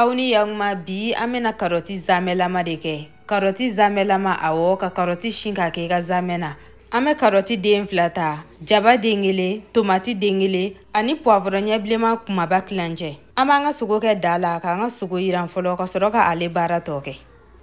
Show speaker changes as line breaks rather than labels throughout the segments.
aw ni yaguma bi an bɛna karɔti zamɛlama de kɛ karɔti zamɛlama awɔ ka karɔti si k'a kɛ i ka zamɛ na an bɛ karɔti den fila ta jaba den kelen tomati den kelen ani puwavɔrɔ ɲɛ bilenman kumaba tilancɛ an b'an ka sogo kɛ da la k'an ka sogo yiran fɔlɔ ka sɔrɔ ka ale baara tɔ kɛ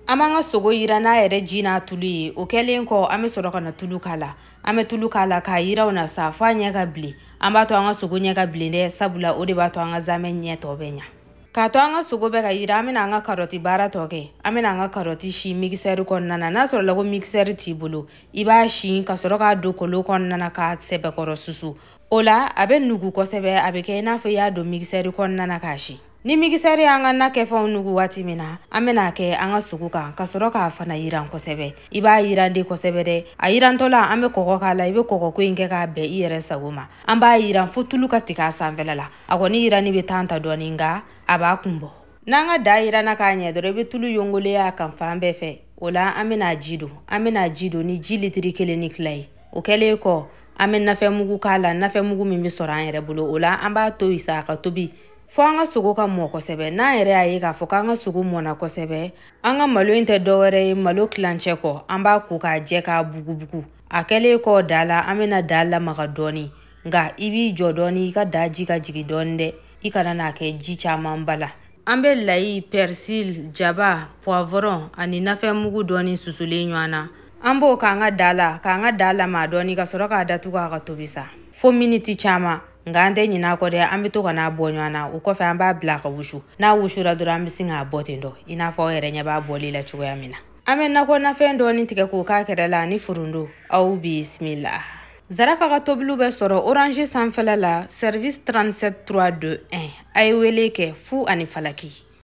an b'an ka sogo yiran n'a yɛrɛ ji n'a tulu ye o kɛlen kɔ an bɛ sɔrɔ ka na tulu k'a la an bɛ tulu k'a la k'a yiran o la sa f'a ɲɛ ka bilen an b'a to an ka sogo ɲɛ ka bilen dɛ sabula o de b'a to an ka zamɛ ɲɛ tɔ bɛ ɲa k'a to an ka sogo bɛ ka yiran an bɛna an ka karɔti baara tɔ kɛ an bɛna an ka karɔti si mikisɛri kɔnɔna na n'a sɔrɔla ko mikisɛri t'i bolo i b'a si ka sɔrɔ k'a don kolon kɔnɔna na k'a sɛbɛkɔrɔ susu o la a bɛ nugu kosɛbɛ a bɛ kɛ i n'a fɔ i y'a don mikisɛri kɔnɔna na k'a si ni mikisɛri y'an ka nakɛfɛnw nugu waati min na an bɛn'a kɛ an ka sogo kan ka sɔrɔ k'a fana yiran kosɛbɛ i b'a yiran de kosɛbɛ dɛ a yirantɔla an bɛ kɔgɔ k'a la i bɛ kɔgɔko in kɛ k'a bɛn i yɛrɛ sago ma an b'a yiran fo tulu ka tigɛ a sanfɛla la a kɔni yirani bɛ tan ta dɔɔni nka a b'a kun bɔ n'an ka da yiranna k'a ɲɛ dɔrɔn i bɛ tulu yongolen ye a kan fan bɛɛ fɛ o la an bɛna ji don an bɛna ji don ni ji litiri kelen ni tila ye o kɛlen kɔ an bɛ nafɛnmugu k'a la nafɛnmugu min bɛ sɔrɔ an yɛrɛ bolo o la an b'a to yen sa a ka tobi fɔ an ka sogo ka mɔ kosɛbɛ n'an yɛrɛ y'a ye k'a fɔ k'an ka sogo mɔna kosɛbɛ an ka malo in tɛ dɔwɛrɛ ye malo tilancɛ kɔ an b'a ko k'a jɛ k'a bugubugu a kɛlen kɔ da la an bɛna da lamaga dɔɔni nka i b'i jɔ dɔɔni i ka da ji ka jigin dɔɔni dɛ i kana n'a kɛ ji camanba la an bɛ layi pɛrisili jaba puwavɔrɔn ani nafɛnmugu dɔɔni susulen ɲɔgɔn na an b'o k'an ka da la k'an ka da lamaa dɔɔni ka sɔrɔ k'a datugu a ka tobi sa fo miniti caman nka an tɛ ɲinɛ a kɔ dɛ an bɛ to ka n'a bɔ ɲɔgɔn na o kɔfɛ an b'a bila ka wusu n'a wusura dɔrɔn an bɛ sin k'a bɔ ten dɔ i n'a fɔ aw yɛrɛ ɲɛ b'a bɔli la cogoya min na an bɛ nakɔ nafɛn dɔɔni tigɛ k'o k'a kɛrɛ la ani foronto aw bisimila Zarafa ka tobiliw bɛ sɔrɔ Orange sanfɛla la service 37 321 a ye wele kɛ fu ani falaki.